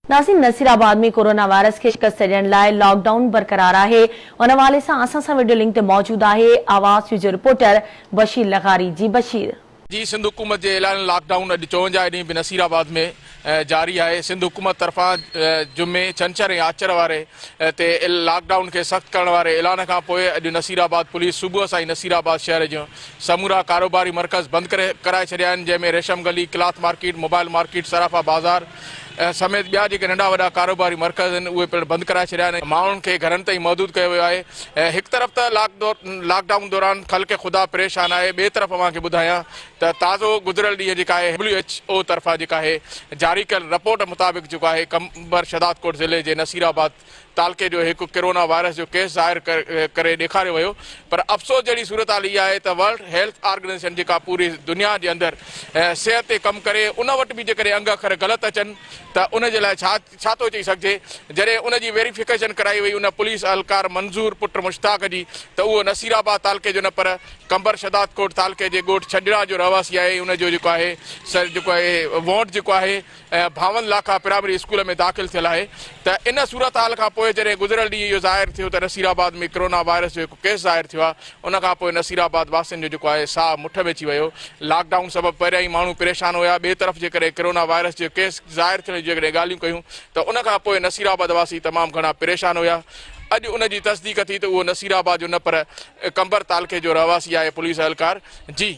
ناظرين Nasirabad ۾ corona virus کي شڪست ڏيڻ لاء لاڪ ڊائون برقرار آهي ان حوالي سان اسان سان وڊيو لنڪ تي موجود آهي آواز فيوچر رپورٽر بشير لغاري جي بشير. جي سنڌ حڪومت جي اعلانيل لاڪ ڊائون اڄ چونجاهه ڏينهن به نصير آباد ۾ جاري آهي سنڌ حڪومت طرفان جمعي، ڇنڇر ۽ آچر واري تي لاڪ ڊائون کي سخت ڪرڻ واري اعلان کان پوء اڄ نصير آباد پوليس صبح سان ئي نصير آباد شهر جون سمورا ڪاروباري مرڪز بند ڪري ڪرائي ڇڏيا آهن جنهن ۾ Resham Gali, cloth market, mobile market, Sarafa Bazaar, سميت ٻيا جيڪي ننڍا وڏا ڪاروباري مرڪز آهن اهي پڻ بند ڪرائي ڇڏيا آهن ماڻهن کي گهرن تائين محدود ڪيو ويو آهي هڪ طرف ته لاڪ ڊائون دوران خلق خدا پريشان آهي ٻئي طرف اوهان کي ٻڌايان ته تازو گذريل ڏينهن جيڪا آهي ڊبليو ايڇ او طرفان جيڪا آهي جاري ڪيل رپورٽ مطابق جيڪو آهي قمبر شهدادڪوٽ ضلعي جي نصير آباد تعلقي جو هڪ ڪرونا وائرس جو ڪيس ظاهر ڪري ڏيکاريو ويو پر افسوس جهڙي صورتحال اها آهي ته ورلڊ هيلٿ آرگنائيزيشن جيڪا پوري دنيا جي اندر صحت تي ڪم ڪري ان وٽ به جيڪڏهن انگ اکر غلط اچن ته ان جي لاء ڇا ڇا ٿو چئي سگهجي جڏهن ان جي ويريفڪيشن ڪرائي وئي ان پوليس اهلڪار منظور پٽ مشتاق جي ته اهو نصير آباد تعلقي جو نه پر قمبر شهدادڪوٽ تعلقي جي ڳوٺ ڇڄڙا جو رهواسي آهي ۽ ان جو جيڪو آهي سر جيڪو آهي وونٽ جيڪو آهي ڀانول لاکا پرائمري اسڪول ۾ داخل ٿيل آهي ته ان صورتحال کان پوء جڏهن گذريل ڏينهن اهو ظاهر ٿيو ته نصير آباد ۾ ڪرونا وائرس جو هڪ ڪيس ظاهر ٿيو آهي ان کان پوء نصير آباد واسين جو جيڪو آهي ساهه مٺ ۾ اچي ويو لاڪ ڊائون سبب پهريان ئي ماڻهو پريشان هيا ٻئي طرف جيڪڏهن ڪرونا وائرس جو ڪيس ظاهر ٿيڻ جون جيڪڏهن ڳالهيون ڪيون ته ان کان پوء نصير آباد واسي تمام گهڻا پريشان هيا اڄ ان جي تصديق ٿي ته اهو نصير آباد جو نه پر قمبر تعلقي جو رهواسي آهي پوليس اهلڪار جي